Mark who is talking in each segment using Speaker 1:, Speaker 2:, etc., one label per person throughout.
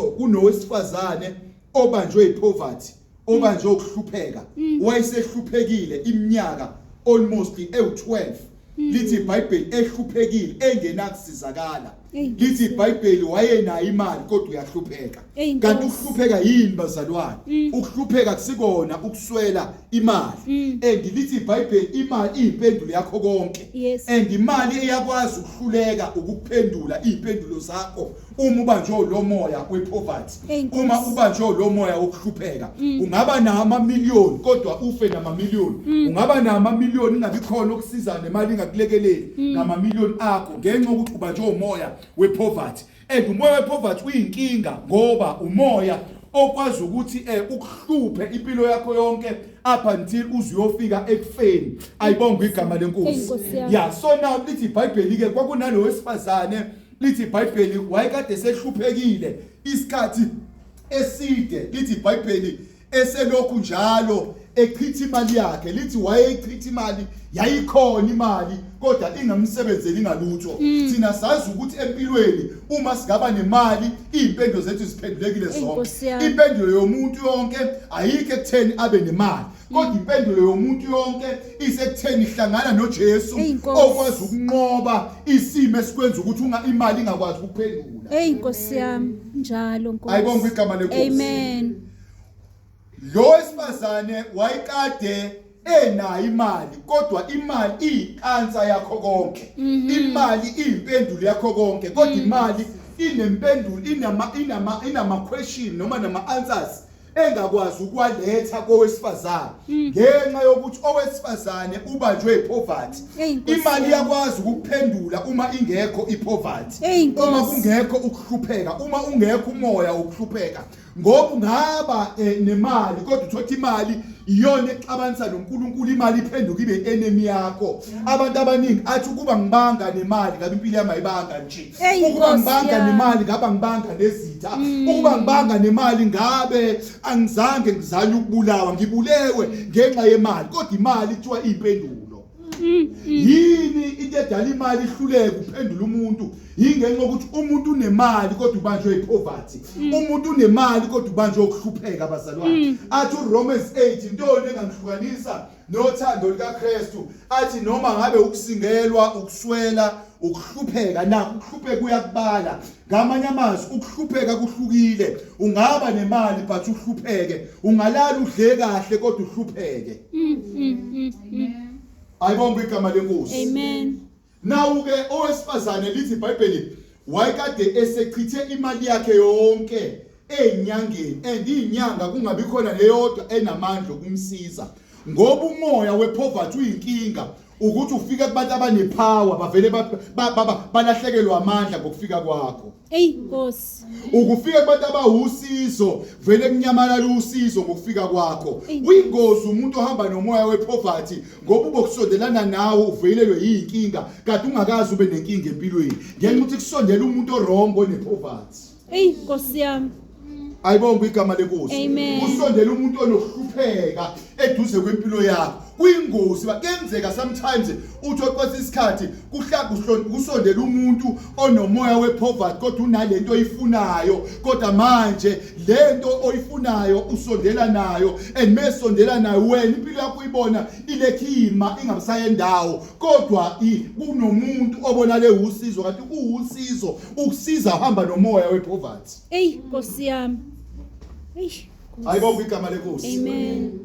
Speaker 1: kunowesifazane obanjwe yipoverty obanjwe ukuhlupheka mm. wayesehluphekile iminyaka almost ewu12 mm. lithi iBhayibheli ehluphekile engenakusizakala lithi iBhayibheli wayenayo imali kodwa uyahlupheka kanti ukuhlupheka yini bazalwane mm. ukuhlupheka kusikona ukuswela imali and lithi iBhayibheli imali iyimpendulo yakho konke and imali eyakwazi ukuhluleka ukuphendula iimpendulo zakho uma ubanjwe lo moya wepoverty uma ubanjwe lo moya wokuhlupheka mm. ungaba namamiliyoni kodwa ufe namamiliyoni mm. ungaba namamiliyoni ingabi khona okusiza nemali ingakulekeleli mm. namamiliyoni akho ngenxa ukuthi ubanjwe umoya wepoverty and umoya wepoverty uyinkinga ngoba umoya okwazi ukuthi eh ukuhluphe impilo yakho yonke up until uzuyofika ekufeni ayibonga igama lenkosi ya so now lithi iBhayibheli ke kwakunalowo wesifazane lithi iBhayibheli wayekade sehluphekile isikhathi eside lithi iBhayibheli eselokhu njalo echitha imali yakhe lithi wayechitha imali yayikhona imali kodwa ingamsebenzeli ngalutho mm. thina sazi ukuthi empilweni uma sigaba nemali izimpendo zethu ziphendulekile zonke impendelo yomuntu yonke ayikho ekutheni abe nemali kodwa impendulo yomuntu yonke isekutheni hlangana noJesu Eyi, Nkosi. okwazi ukunqoba isimo esikwenza ukuthi unga imali ingakwazi ukuphendula Hey Nkosi yami,
Speaker 2: njalo Nkosi. Ayibongwe igama leNkosi.
Speaker 1: Amen. lo wesifazane wayekade enayo imali kodwa imali iyikansa yakho konke Mhm. imali iyimpendulo yakho konke kodwa imali inempendulo inama inama inama question noma nama answers engakwazi ukwaletha kowesifazane hmm. ngenxa yokuthi owesifazane ubanjwe ipoverty imali yakwazi ukuphendula uma ingekho ipoverty uma kungekho ukuhlupheka uma ungekho umoya wokuhlupheka ngoba ungaba eh, nemali kodwa uthothi imali iyona exabanisa noNkulunkulu imali iphenduka ibe enemy yakho abantu abaningi athi ukuba ngibanga nemali ngabe impilo yami ayibanga nje Eyi, ukuba Nkosi ngibanga yami. nemali ngabe angibanga nezitha Mm. ukuba ngibanga nemali ngabe angizange ngizanye ukubulawa ngibulewe ngenxa yemali kodwa imali kuthiwa iyimpendulo Mm, yini into edala imali ihluleke uphendula umuntu yingenxa yokuthi umuntu unemali kodwa ubanjwe ipoverty Mm. umuntu unemali kodwa ubanjwe ukuhlupheka abazalwane athi uromans 8 intoni engangihlukanisa nothando lukaKristu athi noma ngabe ukusingelwa ukuswela ukuhlupheka nakho ukuhlupheka kuyakubala ngamanye amazwi ukuhlupheka kuhlukile ungaba nemali but uhlupheke ungalala udle kahle kodwa uhlupheke mm, mm, mm, ayibonga igama lenkosi amen
Speaker 2: Nawu-ke
Speaker 1: owesifazane lithi iBhayibheli wayekade esechithe imali yakhe yonke ezinyangeni and izinyanga kungabi khona leyodwa enamandla okumsiza ngoba umoya wepoverty uyinkinga ukuthi ufike kubantu abanepower bavele balahlekelwa amandla ngokufika kwakho Ey Nkosi.
Speaker 2: Ukufika kubantu
Speaker 1: abawusizo vele kunyamalala usizo ngokufika kwakho. Uyingozi umuntu ohamba nomoya wepoverty ngoba ubokusondelana nawe uvelelwe yinkinga kanti ungakazi ube nenkinga empilweni. Ngenxa ukuthi kusondela umuntu orongo nepoverty. Ey Nkosi
Speaker 2: yami. ayibonga
Speaker 1: igama lenkosi usondela umuntu onokuhlupheka eduze kwempilo yakho kuyingozi bakenzeka sometimes uthi oqwesa isikhathi kusondela umuntu onomoya wepoverty kodwa unalento oyifunayo kodwa manje lento oyifunayo usondela nayo and mesondela nayo wena impilo yakho uyibona ilekhima ingabusayendawo kodwa kunomuntu obonale usizo kanti kuwusizo ukusiza uhamba nomoya wepoverty Eyi Nkosi
Speaker 2: yami.
Speaker 1: Eish. Ayibonga igama lenkosi. Amen.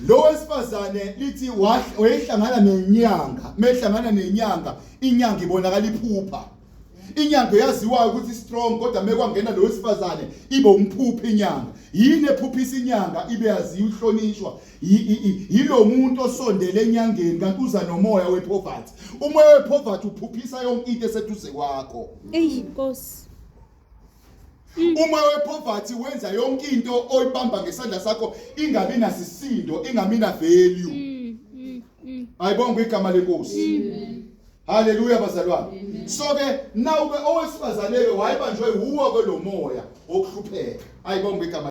Speaker 1: Lo wesifazane lithi wayehlangana nenyanga, mehlangana nenyanga, inyanga ibonakala iphupha. Inyanga yaziwayo ukuthi strong kodwa mekwangena lo wesifazane ibe umphuphi inyanga. Yini ephuphisa inyanga ibe yaziwa uhlonishwa. Yilo muntu osondele enyangeni kanti uza nomoya wepoverty. Umoya wepoverty uphuphisa yonke into eseduze kwakho. Eyi Nkosi. Mm. uma wepoverty wenza yonke into oyibamba ngesandla sakho ingabi nasisindo ingami na value mm, mm, ayibonga igama lenkosi haleluya bazalwane so ke nawe owesifazane ke wayebanjwe wuwo ke lomoya wokuhlupheka ayibonga igama